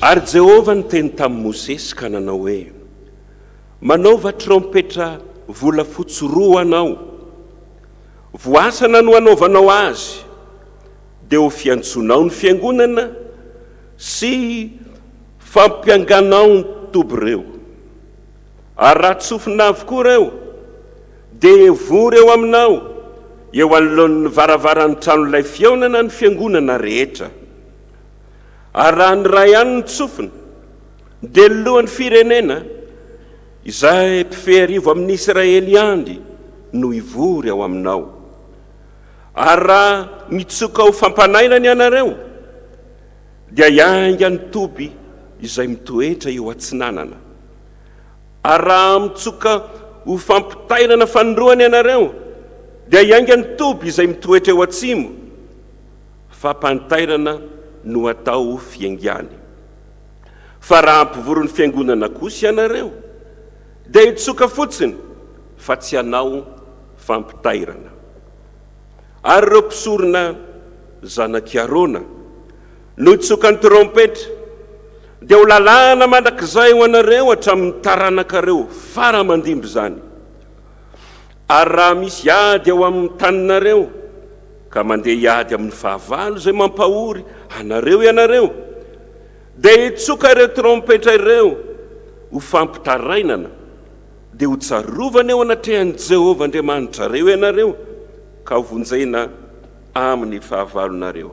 Ary Jehovah niteny tamin'i Mosesy ka nanao hoe, Manaova trompetra volafotsy roa ho anao. Voasana no hanaovanao azy, dia ho fiantsoanao ny fiangonana sy fampianganao ny toby ireo. Ary raha tsofina avokoa ireo, dia hivory eo aminao, eo anoloan'ny varavaran'ny tranolay fihaonana ny fiangonana rehetra. Ary raha ny iray ihany no tsofina, dia ny lohan'ny firenena, izay mpifeharivo amin'ny Israely ihany, no hivory ao aminao. Ary raha mitsoka ho fampanainana ianareo, dia hiainga ny toby izay mitoetra eo atsinanana. Ary raha mitsoka ho fampitairana fanindroany ianareo, dia hiainga ny toby izay mitoetra eo atsimo. Fampanitairana no atao fiaingàny. Fa raha hampivory ny fiangonana kosa ianareo, dia hitsoka fotsiny, fa tsy hanao fampitairana. Ary ireo mpisorona, zanak'i Arona, Notsoka ny trompetra, dia ho lalàna mandrakizay ho anareo hatramin'ny taranakareo fara aman-dimby izany. Ary raha misy ady ao amin'ny taninareo, ka mandeha hiady amin'ny fahavalo izay mampahory anareo ianareo, dia hitsoka ireo trompetra ireo ho fampitarainana, dia hotsarovana eo anatrehan'i Jehovah Andriamanitrareo ianareo, ka hovonjena amin'ny fahavalonareo.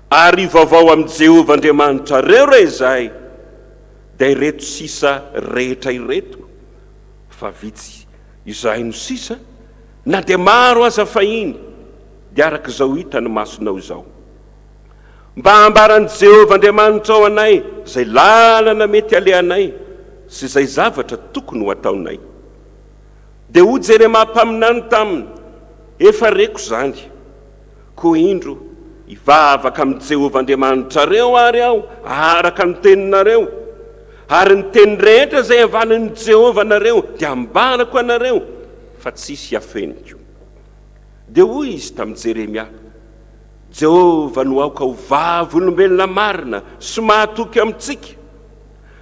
Ary ivavao amin'i Jehovah Andriamanitrareo re izay, dia ireto sisa rehetra ireto, fa vitsy izay no sisa, na dia maro aza fahiny, dia araka izao hitan'ny masonao izao. Mba hambaran'i Jehovah Andriamanitrao anay izay lalana mety halehanay sy izay zavatra tokony ho ataonay. Dia hoy Jeremia mpaminany taminy, Efa reko izany. Koa indro, hivavaka amin'i Jehovah Andriamanitrareo àry aho araka ny teninareo, ary ny teny rehetra izay avalin'i Jehovah anareo dia ambarako anareo, fa tsisy hafeniko. Dia hoy izy tamin'i Jeremia, Jehovah no aoka ho vavolombelona marina sy mahatoky amintsika,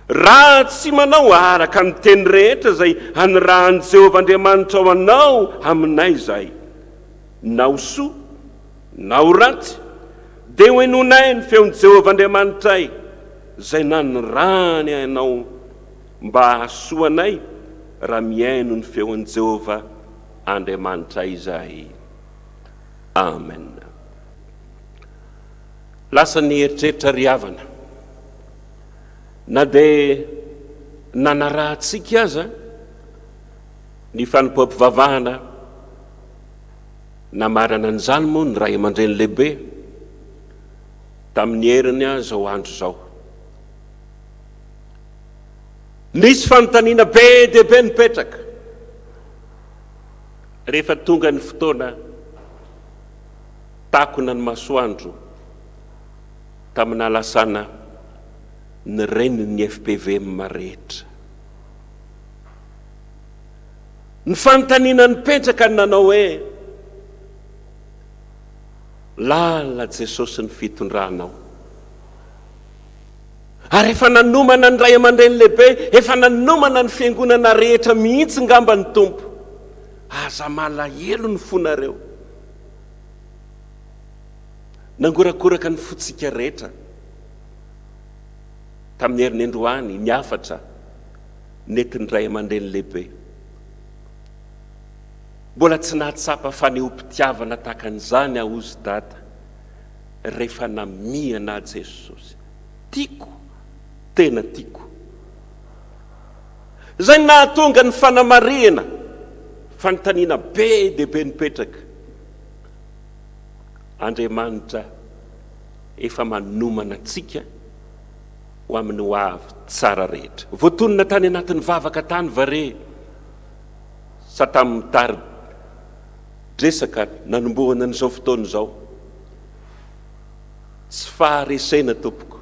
raha tsy manao araka ny teny rehetra izay anirahan'i Jehovah Andriamanitrao anao aminay izahay. na ho soa na ho ratsy, dia hohenoinay ny feon'i Jehovah Andriamanitray, izay nanirahany anao mba hahasoa anay, raha mihaino ny feon'i Jehovah Andriamanitray izahay. Amena. Lasa ny eritreritra ry havana. Na dia nanarahantsika aza ny fanompoam-pivavahana, Namarana an'izany moa ny ray aman-dreny lehibe tamin'ny heriny izao andro izao. Misy fanontaniana be dia be mipetraka rehefa tonga ny fotoana takona ny masoandro tamin'alasana ny renin'ny FPVM rehetra. Ny fanontaniana nipetraka no nanao hoe, Lalina Jesosy ny fitondranao? Ary efa nanomana ny Ray aman-dReny lehibe, efa nanomana ny fiangonana rehetra mihitsy ngamba ny Tompo. Aza malahelo ny fonareo. Nangorakoraka ny fontsika rehetra tamin'ny herin'endroany ny hafatra. Nentin'ny ray aman-dreny lehibe. Mbola tsy nahatsapa fanehoam-pitiavana tahaka an'izany aho hozy Dada rehefa namihana ahy Jesosy. Tiako, tena tiako. Izay no nahatonga ny fanamarihana, fanontaniana be dia be nipetraka. Andriamanitra efa manomana antsika. Ho amin'ny ho avy tsara rehetra. Voatonona tany anatin'ny vavaka tany va re sa tamin'ny tari-dresaka nanombohana an'izao fotoana izao? Tsy faharesena tompoko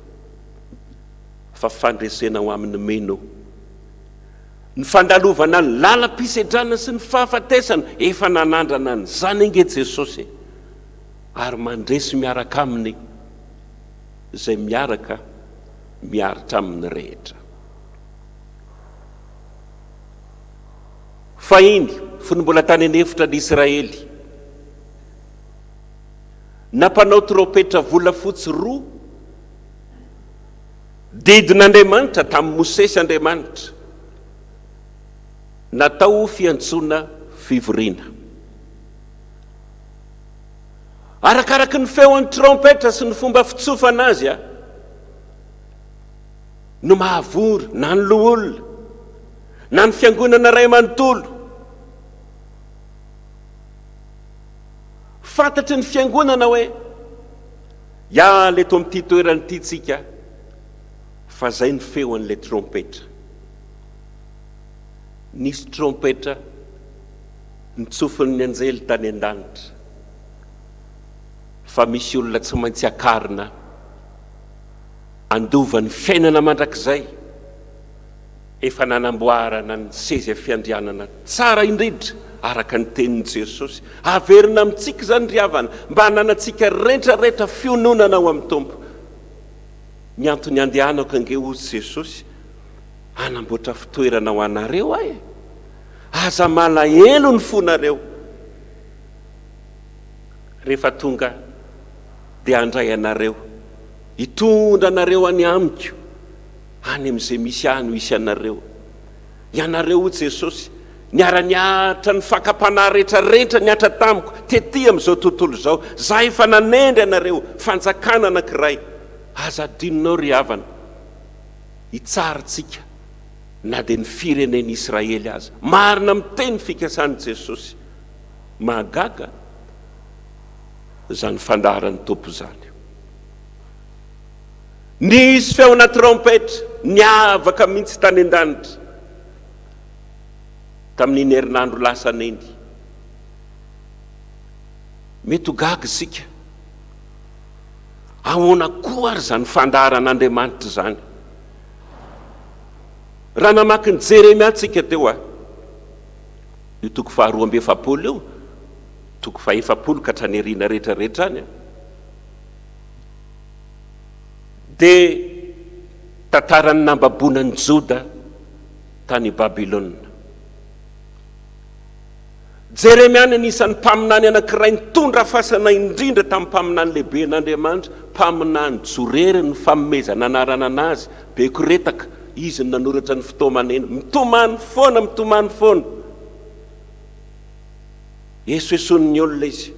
fa fandresena ho amin'ny mino. Ny fandalovana ny lalam-pisedrana sy ny fahafatesana efa nanandrana an'izany ange Jesosy e! Ary mandresy miaraka aminy. Izay miaraka miaritra aminy rehetra. Fahiny, fony mbola tany an'efitra ny Israely, nampanao trompetra volafotsy roa didin'Andriamanitra tamin'i Mosesy Andriamanitra, natao ho fiantsoana fivoriana. Arakaraky ny feon'ny trompetra sy ny fomba fitsofana azy aho no mahavory na ny loholona na ny fiangonana iray manontolo. Fantatry ny fiangonana hoe hiala eto amin'ity toerana ity tsika fa izay ny feon'ilay trompetra. Nisy trompetra Ny tsofin'ny anjely tany an-danitra fa misy olona tsy maintsy akarina handova ny fiainana mandrakizay, efa nanamboarana ny seza fiandrianana tsara indrindra araka ny tenin'i Jesosy. Averina amintsika izany ry havana mba hananantsika rehetra rehetra fiononana ao amin'ny Tompo. Ny antony handehanako ange hozy Jesosy, hanamboatra fitoerana ho anareo aho e! Aza malahelo ny fonareo rehefa tonga dia handray anareo, hitondra anareo any amiko, any amin'izay misy ahy no hisy anareo. Ianareo, hoy Jesosy, niara-nihatra ny fakam-panahy rehetrarehetra nihatra tamiko tetỳ amin'izao tontolo izao. Izaho efa nanendry anareo fanjakana anankiray. Aza adinonao, ry havana, hitsarintsika. na dia ny firenen'i Israely aza. Marina miteny ny fikasan'i Jesosy. Mahagaga izany fandaharan'ny Tompo izany. Nisy feona trompetra niavaka mihitsy tany an-danitra tamin'iny herinandro lasa neny. Mety ho gaga isika. Ahoana koa ary izany fandaharan'Andriamanitra izany? Raha namaky ny Jeremia tsika teo a! io toko faharoa amby efapolo io, toko fahefapolo ka hatrany aoriana rehetra rehetra any a! dia tantaran'ny nambaboana an'i Joda tany Babylona. Jeremia no anisan'ny mpaminany anankiray nitondra fasana indrindra tamin'ny mpaminany lehiben'Andriamanitra, mpaminany jorery ny fanomezana anarana anazy, Bekoretaka, izy no nanoratra ny fitomanena. Mitomany foana, mitomany foana. Esoesoin'ny olona izy.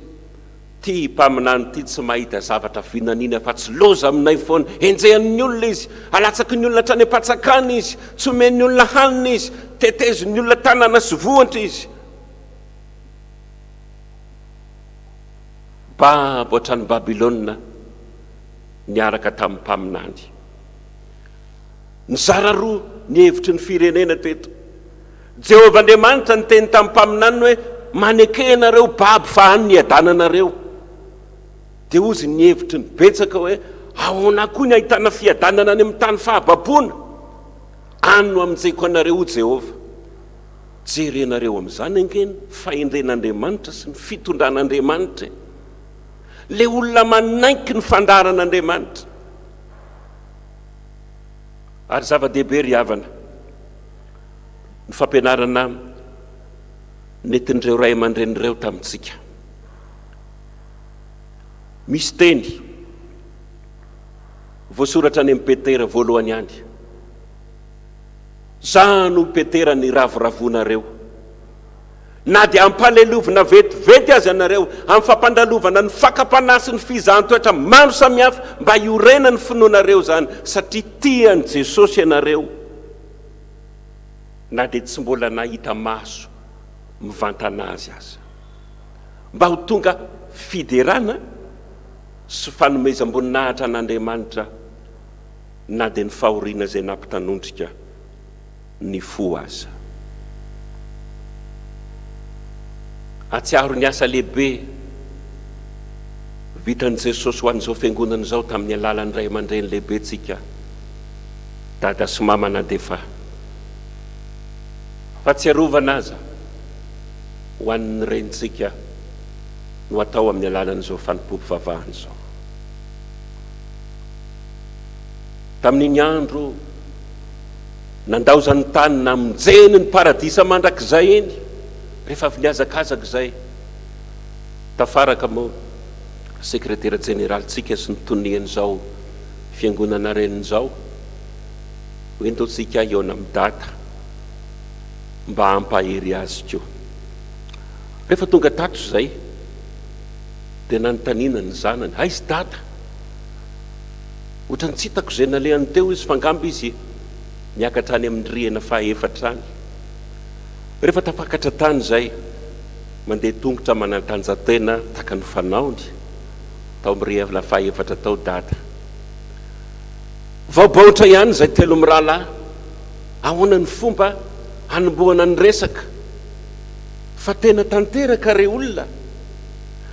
Ty mpaminany ty tsy mahita zavatra vinaniany afa-tsy loza aminay foana. Enjehan'ny olona izy, alatsaky ny olona hatrany am-patsakana izy, tsy omen'ny olona hanina izy, tetezin'ny olona tanana sy vohotra izy. Babo hatrany Babylona niaraka tamin'ny mpaminany. Nizara roa ny hevitry ny firenena teto. Jehovah Andriamanitra niteny tamin'ny mpaminaniny hoe, Maneke ianareo babo fa any no hiadananareo. Dia hozy ny hevitry ny betsaka hoe, Ahoana koa ny hahitana fiadanana any amin'ny tany fahababoana? Any no hamonjeko anareo, hoy Jehovah. Jerenareo amin'izany ange ny fahendren'Andriamanitra sy ny fitondran'Andriamanitra e! Ilay olona manaiky ny fandaharan'Andriamanitra. Ary zava-dehibe ry havana, ny fampianarana nentin'ireo ray aman-dreny ireo tamintsika. Misy teny voasoratra any amin'ny Petera voalohany any. Za no Petera ny ravoravoanareo. Na dia ampalelovina vetivety aza ianareo amin'ny fampandalovana ny fakam-panahy sy ny fizahan-toetra maro samihafa mba hiorenan'ny finoanareo izany satria tian'i Jesosy ianareo. na dia tsy mbola nahita maso mivantana azy aza. Mba ho tonga fiderana sy fanomezam-boninahitra an'Andriamanitra na dia ny fahoriana izay nampitanondrika ny fo aza. Ahatsiaro ny asa lehibe vitan'i Jesosy ho an'izao Fiangonana izao tamin'ny alalan'ny ray aman-dreny lehibentsika. Dada sy mama na dia efa fahatsiarovana aza ho an'ny renintsika no atao amin'ny alalan'izao fanompoam-pivavahana izao. Tamin'iny andro nandaozan'ny tany namonjeny ny paradisa mandrakizay iny, rehefa avy nihazakazaka izay, tafaraka moa sekretera jeneralintsika sy ny tonian'izao, Fiangonana Reninjao, ho entontsika hihaona amin'i Dada mba hampahery azy koa. Rehefa tonga tato izay dia nanontaniana ny zanany, aiza Dada? Ohatran'ny tsy hitako izay nalehany teo izy fa angamba izy niakatra any amin'ny rihana fahaefatra any. Rehefa tafakatra tany izay, mandeha tongotra manandanja-tena takan'ny fanaony. tao mirehivla faha efatra tao dada. Vao baotra ihany izay telo mirahalahy, ahoana ny fomba hanombohana ny resaka fa tena tanteraka re olona,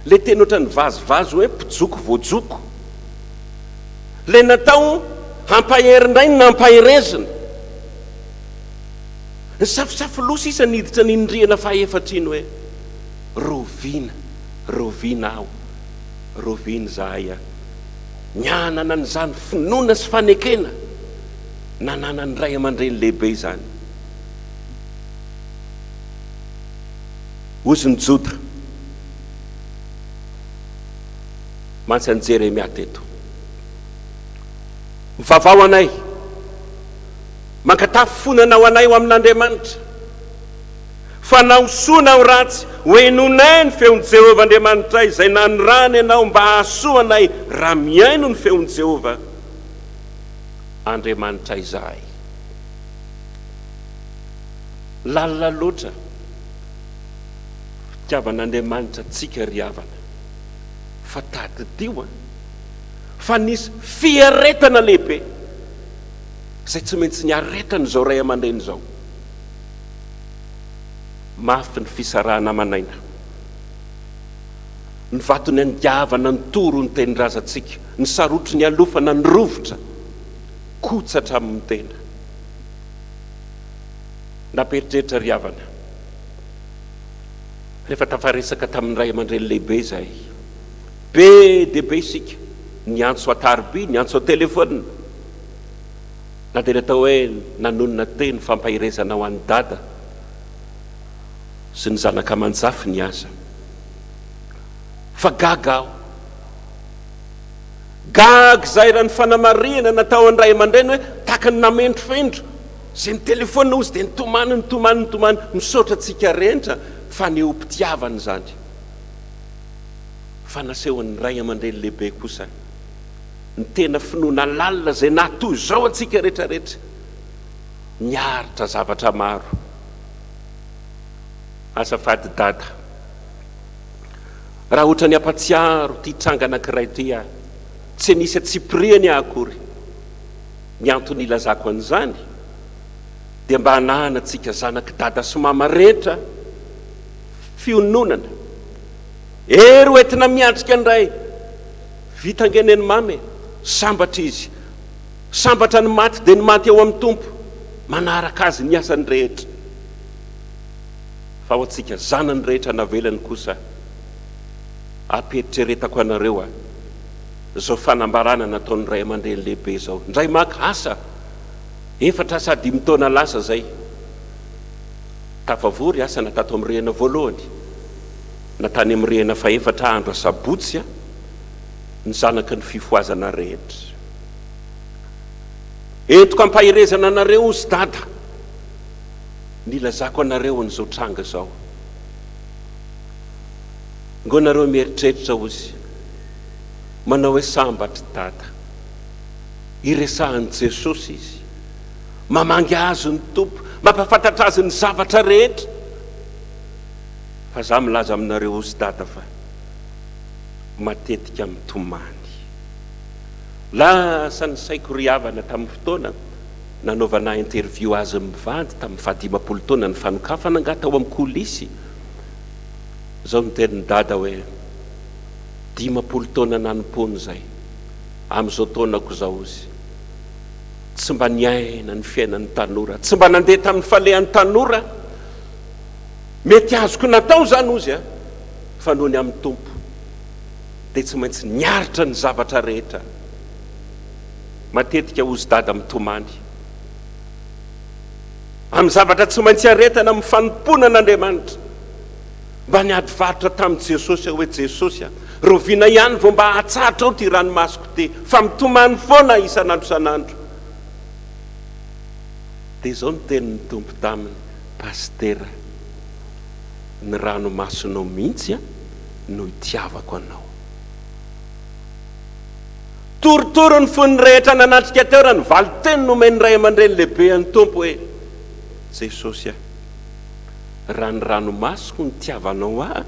le teny ohatran'ny vazivazy hoe mpijoko voajoko, le natao hampahery indray ny nampaherezina, nisafosafo loha sisa niditra niny rihana faha efatra iny hoe rovina. Rovina aho, rovina izahay a! Ny hanana an'izany finoana sy fanekena nananan'ny ray aman-dreny lehibe izany. Hozy ny Joda, mantsy an'i Jeremia teto. Mivavaha ho anay, mankatafy fo nanao anay ho amin'Andriamanitra. fa na ho soa na ho ratsy, hohenoinay ny feon'i Jehovah Andriamanitray, izay nanirahany anao mba hahasoa anay raha mihaino ny feon'i Jehovah Andriamanitray izahay. Lalina loatra fitiavan'Andriamanitra antsika, ry havana, fa tadidio fa nisy fiaretana lehibe izay tsy maintsy niaretan'izao ray aman-dreny izao. Mafy ny fisarahana aman'aina. Ny vaton'ny andiavana ny toro ny tenin-drazantsika, ny sarotro nialofana ny rovitra, kotsatra amin'ny tena. Nampiheritreritra ry havana, rehefa tafaresaka tamin'ny ray aman-dreny lehibe izahay. Be dia be isika, niantso an-tarobia, niantso an-telefaonina. Na dia natao hoe nanonona teny fampaherezana ho an'i Dada sy ny zanaka aman-jafiny aza. Fa gaga aho. Gaga izahay raha ny fanamarihana natao an'ny ray aman-dreny hoe tahaka ny namendrofendro izay nitelefaonina hozy dia nitomany, nitomany, nitomany, misaotra antsika rehetra fanehoam-pitiavana izany. Fa nasehon'ny ray aman-dreny lehibe kosa. ny tena finoana lalina izay na toy izao antsika rehetra rehetra miaritra zavatra maro azafady dada raha ohatran'ny ampatsiaro ity tranga anankiray ity aho tsy nisy atsipirihany aho akory ny antony ilazako an'izany dia mba hananantsika zanak'i dada sy mama rehetra fiononana ery hoentina miatrika indray Vita ange neny mamy e! Sambatra izy. Sambatra ny maty dia ny maty ao amin'ny Tompo, manaraka azy ny asany rehetra. Fa ho antsika zanany rehetra navelany kosa, ampiheritreretako anareo a! izao fanambarana nataon'ny ray aman-dreny lehibe izao, indray maka asa, efatra sa dimy taona lasa izay, tafavory asana tato amin'ny rihana voalohany, na tany amin'ny rihana fahefatra andro asabotsy a! ny zanaky ny fifohazana rehetra. Entiko ampaherezana anareo ozy dada ny ilazako anareo an'izao tranga zao. Ngo nareo mieritreritra ozy manao hoe sambatry dada. Iresahan'i Jesosy izy. Mamangy azy ny Tompo. Mampafantatra azy ny zavatra rehetra. Fa za milaza aminareo ozy dada fa. matetika mitomany. Lasa ny saiko ry havana tamin'ny fotoana nanaovana interview azy mivady tamin'ny fahadimampolo taona ny fanokafana angaha tao amin'ny coulisse izao niteny dada hoe dimampolo taona nanompoany izay amin'izao taonako izao izy tsy mba niaina ny fiainan'ny tanora tsy mba nandeha tamin'ny falehan'ny tanora mety azoko natao izany ozy a fa noho ny amin'ny Tompo dia tsy maintsy niaritra ny zavatra rehetra. Matetika hozy dada mitomany amin'ny zavatra tsy maintsy iaretana amin'ny fanompoana an'Andriamanitra. Mba niady varotra tamin'i Jesosy aho hoe, Jesosy a, rahoviana ihany vao mba hahatsatrao ity ranomasoko ity, fa mitomany foana aho isan'andro isan'andro. Dia izao ny tenin'ny Tompo taminy, Pasitera. Ny ranomasonao mihitsy no itiavako anao. Torotoro ny fon'ny rehetra nanatrika teo raha ny valin-teny nomen'ny ray aman-dreny lehibe an'ny Tompo hoe, Jesosy a, raha ny ranomasoko no itiavanao ahy,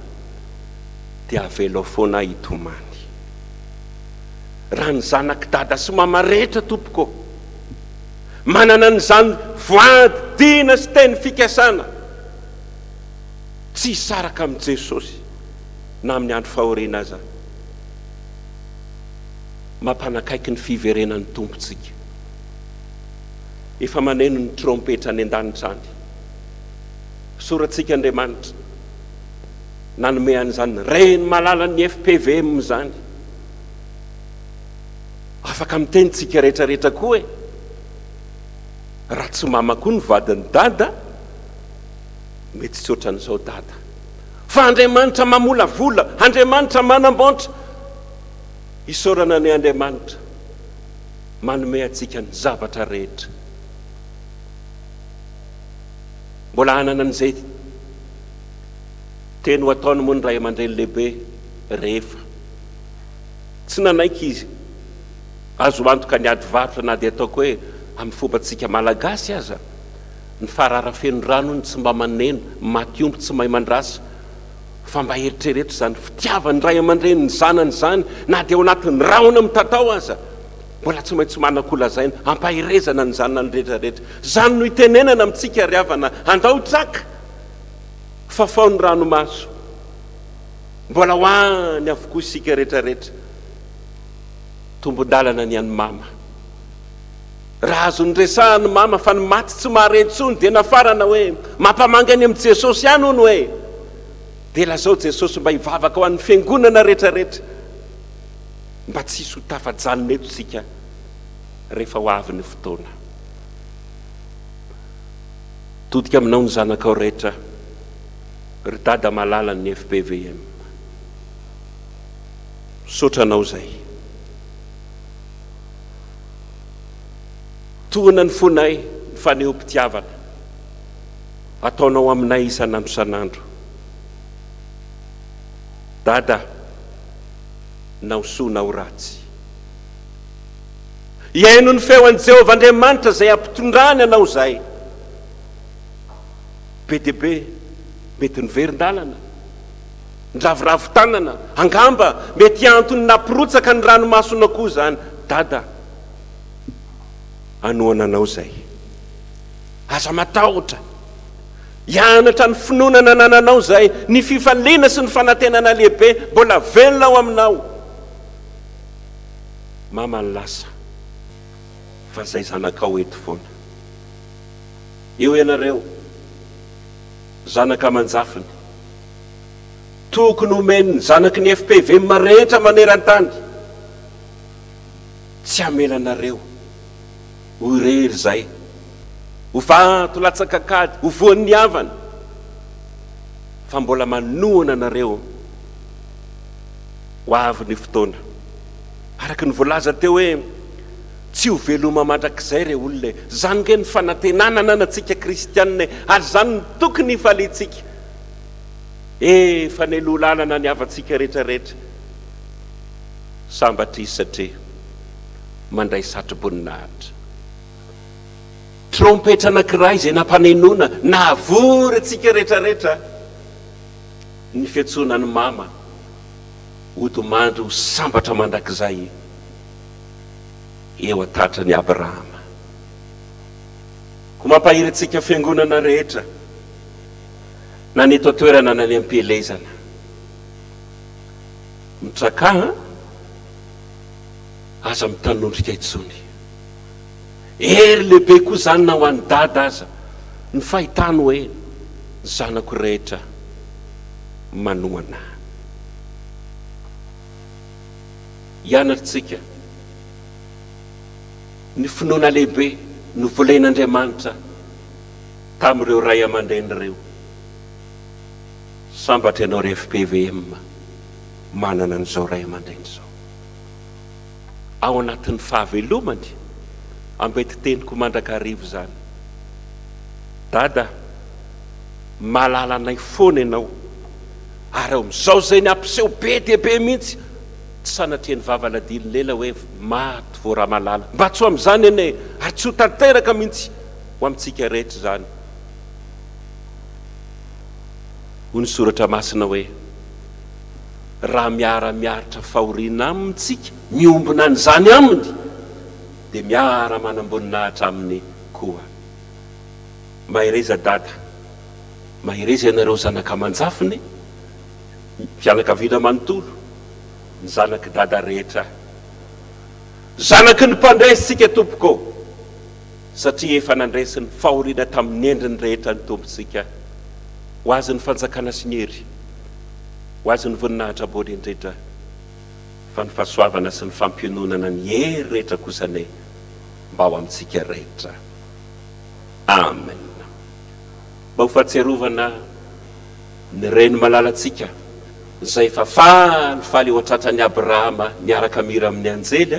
dia avelao foana ahy hitomany. Raha ny zanak'i Dada sy Mama rehetra Tompoko ô, manana an'izany voady, dina sy teny fikasana. tsy hisaraka amin'i Jesosy na amin'ny andro fahoriana aza. Mampanakaiky ny fiverenan'ny Tompontsika. Efa maneno ny trompetra any an-danitra any. Soratsika Andriamanitra nanome an'izany Reny malalan'ny FPVM izany. Afaka miteny tsika rehetra rehetra koa e! Raha tsy mama koa ny vadin'i Dada, Mety tsy ohatran'izao Dada. Fa Andriamanitra mamolavola, Andriamanitra manambaontra. Isaorana ny Andriamanitra manome antsika ny zavatra rehetra. Mbola hanana an'izay teny ho ataony moa ny ray aman-dreny lehibe rehefa tsy nanaiky izy. Azo antoka ny ady varotra na dia ataoko hoe amin'ny fombantsika Malagasy aza Ny farara feno rano hono tsy mba maneno, maty omby tsy mahay mandrasa. Fa mba eritrereto izany fitiavan'ny ray aman-dreny ny zanany izany, na dia ao anatin'ny rahona mitatao aza. Mbola tsy maintsy manan-kolazaina, ampaherezana ny zanany rehetra rehetra. Izany no itenenana amintsika ry havana, andao traka! Fafao ny ranomaso! Mbola ho any avokoa isika rehetra rehetra. Tombon-dalana ny an'i Mama. Raha azo noresahany mama fa ny maty tsy mahare intsony dia nafarana hoe mampamangy any amin'i Jesosy ihany hono hoe. Dia lazao Jesosy mba hivavaka ho an'ny fiangonana retraretra mba tsy hisy ho tafajanona eto isika rehefa ho avy ny fotoana. Todika aminao ny zanakao rehetra ry Dada malalan'ny FPVM. Misaotra anao izay. Tokana ny fonay, ny fanehom-pitiavana ataonao aminay isan'andro isan'andro. Dada, na ho soa na ho ratsy. Hihaino ny feo an'i Jehovah Andriamanitra izay hampitondrany anao izahay. Be dia be mety niverin-dalana. Niraviravy tanana. Angamba mety antony nampirotsaka ny ranomasona koa izany Dada hanohana anao izay. Aza matahotra. Hianatra ny finoana nanananao izay. Ny fifaliana sy ny fanantenana lehibe mbola velona ao aminao. Mama ny lasa fa izay zanakao eto foana. Eo ianareo, zanaka aman-jafiny. Tokony homen'ny zanaky ny FPVM rehetra maneran-tany. Tsy hamela anareo ho irery izay. Ho vato latsak'ankady, ho voan'ny havana. Fa mbola manohana anareo. Ho avy ny fotoana. Araka ny voalaza teo hoe, Tsy ho veloma mandrakizay re olona e. Izany ange ny fanantenana ananantsika kristianina e. Ary izany no tokony hifaliantsika. E! fa nenolanana ny havantsika retraretra Sambatris satria mandray satroboninahitra Trompetra anankiray izay nampanenona Nahavory antsika retraretra Ny fiantsoana an'i Mama Hody mandry ho sambatra mandrakizay Eo an-tatran'i Abrahama Ko mampahery antsika fiangonana rehetra na ny eto an-toerana na ny am-pielezana. Mitraka an! Aza mitanondrika intsony. Hery lehibe koa izany na ho an'i Dada aza ny fahitany hoe ny zanako rehetra manohana ahy. Ianarantsika ny finoana lehibe novolen'Andriamanitra. Tamin'ireo ray aman-dreny ireo. Sambatra ianao ry FPVM manana an'izao ray aman-dreny izao. Ao anatin'ny fahavelomany, ambetin-teniko mandrakariva izany. Dada, mahalala anay foana ianao ary ao amin'izao izay ny hampiseho be dia be mihitsy, tsy sanatria ny vavaladilon'ela hoe maty vao ramalala. Mba tsy ho amin'izany anie ary tsy ho tanteraka mihitsy. ho amintsika rehetra izany. Hoy ny Soratra Masina hoe, Raha miara-miaritra fahoriana amintsika, miombona an'izany aminy, dia miara-manam-boninahitra aminy koa. Mahereza Dada, mahereza ianareo zanaka aman-jafiny, ny fianakaviana manontolo, ny zanak'i Dada rehetra. Zanaky ny Mpandresy isika tompoko ô! satria efa nandresy ny fahoriana tamin'ny endriny rehetra ny Tompontsika. Ho Azy ny fanjakana sy ny hery. Ho Azy ny voninahitra ambony indrindra. Fa ny fahasoavana sy ny fampiononana ny hery rehetra kosa anie mba ho amintsika rehetra. Amen. Mba ho fahatsiarovana ny Reny malalantsika izay efa falifaly ho tratran'i Abrahama niaraka mihira amin'ny anjely,